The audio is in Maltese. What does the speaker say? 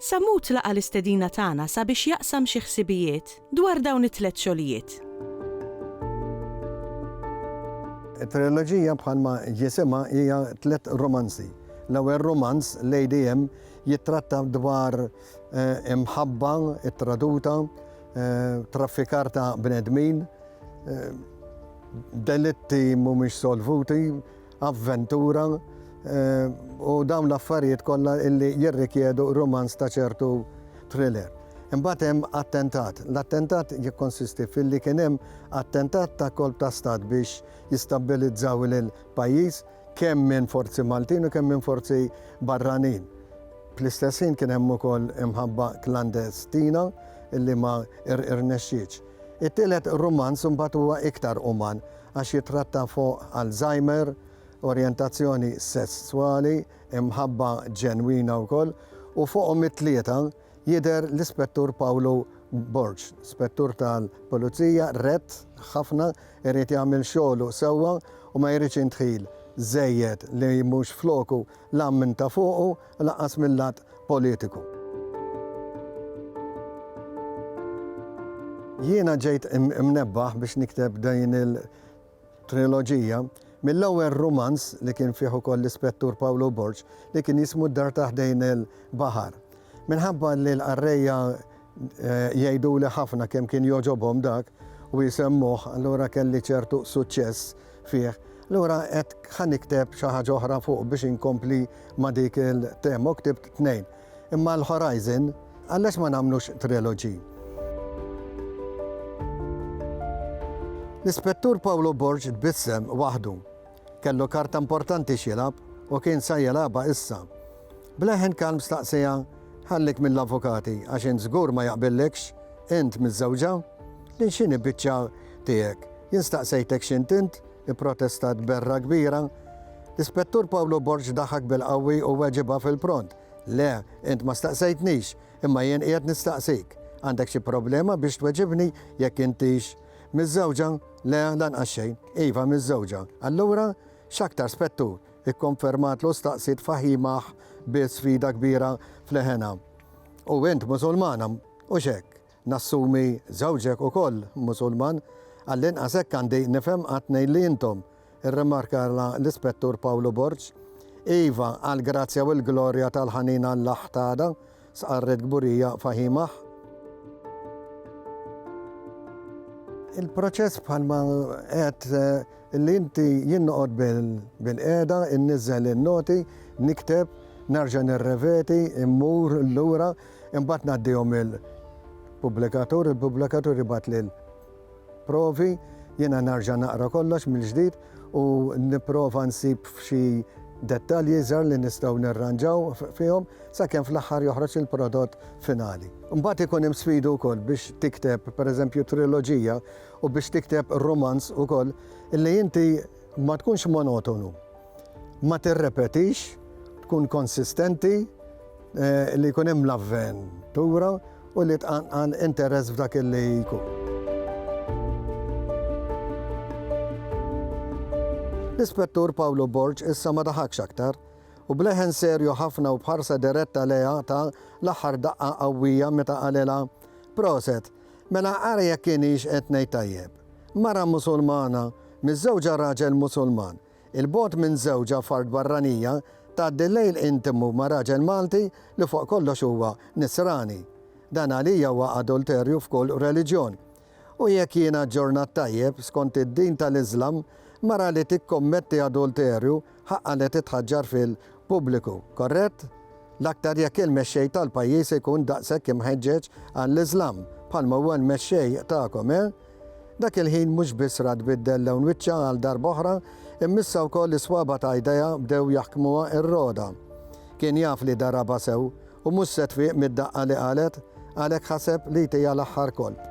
Sammut laqa' l-istedina tagħna sabiex jaqsam xi ħsibijiet dwar dawn it-tliet xogħlijiet. It-triloġija bħalma jisimha hija tliet rumanzi. L-ewwel rumanz, Lady M, jittratta dwar imħabba ttraduta, traffikar ta' bnedmin, delitti mhumiex solvuti, avventura u dawn l-affarijiet kollha illi jirrikjedu rumanz ta' ċertu thriller. Imbagħad hemm attentat. L-attentat jikkonsisti filli kien hemm attentat ta' kolp ta' stat biex jistabbilizzaw il-pajjiż kemm minn forzi Maltin u kemm minn forzi barranin. Fl-istess ħin kien hemm ukoll imħabba klandestina illi ma rnexxietx. It-tielet rumanz imbagħad huwa iktar uman għax jittratta fuq Alzheimer, orjentazzjoni sesswali, imħabba ġenwina wkoll, u fuqhom it-tlieta jidher l-Ispettur Pawlu Borg, Spettur tal-Pulizija rett ħafna, irid jagħmel xogħlu sewwa u ma jridx indħil żejjed li mhux f'loku la minn ta' fuqu, u lanqas mil-lat politiku. Jiena ġejt imnebbaħ biex nikteb din il-triloġija mill-ewwel rumanz li kien fih ukoll l-Ispettur Pawlu Borg li kien jismu d-dar ta' ħdejn il-baħar. Minħabba li l-qarrejja Jgħiduli ħafna kemm kien jogħġobhom dak u jsemmuh, allura kelli ċertu suċċess fih. Allura għedt ħa nikteb xi ħaġa oħra fuq biex inkompli ma' dik il-tema u ktibt tnejn. Imma l-Horizon għalax ma nagħmlux trilogy? L-Ispettur Paolo Borg tbissem waħdu Kellu karta importanti x'jilgħab u kien sa jilgħabha issa. B'leħen kalm staqsieha, Ħallik mill-avukati għax int żgur ma jaqbillikx? Int miżżewġa? Lil x'inhi biċċa tiegħek? Jien staqsejtek x'int int? ipprotestat b'gherra kbira. L-Ispettur Pawlu Borg daħak bil-qawwi u weġibha fil-pront, Le, int ma staqsejtnix, imma jien qiegħed nistaqsik. Għandek xi problema biex tweġibni jekk intix Miżżewġa? Le, lanqas xejn. Iva, miżżewġa. Allura, x'aktar spettur? ikkonfermatlu staqsiet Fahimah bi sfida kbira f'leħenha. U int Musulmana, hux hekk? Nassumi żewġek ukoll Musulman. Għall-inqas hekk għandi nifhem qatt ngħid li intom. irrimarka l-Ispettur Pawlu Borg. Iva, għall-grazzja u l-glorja tal-ħanin Alla ħtada, stqarret Gburija Fahimah. Il-proċess bħalma qed eh, li inti jien noqgħod bil-qiegħda, inniżel in-noti, nikteb, narġa' nirreveti, immur lura, imbagħad ngħaddihom il-pubblikatur, il-pubblikatur ibgħat lil provi, jiena nerġa' naqra kollox mill-ġdid u nipprova nsib xi dettalji żgħar li nistgħu nirranġaw fihom sakemm fl-aħħar joħroġ il-prodott finali. Imbagħad ikun hemm sfidi wkoll biex tikteb, pereżempju, triloġija u biex tikteb rumanz ukoll, li inti ma tkunx monotonu. Ma tirrepetix, tkun konsistenti li jkun hemm l-avventura u li tqanqal interess f'dak li jkun. L-Ispettur Pawlu Borg issa ma daħakx aktar u b'leħen serju ħafna u b'ħarsa diretta lejha ta l-aħħar daqqa qawwija meta qalilha, Proset, mela ara jekk ienix qed ngħid tajjeb. Mara Musulmana miżżewġa raġel Musulman. 'il bogħod minn żewġha f'art barranija, tgħaddi l-lejl intimu ma' raġel Malti li fuq kollox huwa Nisrani. Dan għalija huwa adulterju f'kull reliġjon. U jekk jiena aġġornat tajjeb, skont id-din tal-Iżlam, mara li tikkommetti adulterju ħaqqha li titħaġġar fil-pubbliku. Korrett? L-aktar jekk il-mexxej tal-pajjiż ikun daqshekk imħeġġeġ għall-Iżlam, bħalma huwa l-mexxej tagħkom, eh? Dak il-ħin mhux biss ra tbiddel lewn wiċċha għal darba oħra, imma issa wkoll is-swaba' ta' jdejha bdew jaħkmuha r-roda. Kien jaf li darabha sew u mhux se tfiq mid-daqqa li qalet, għalhekk ħaseb li jtiha l-aħħar kolp.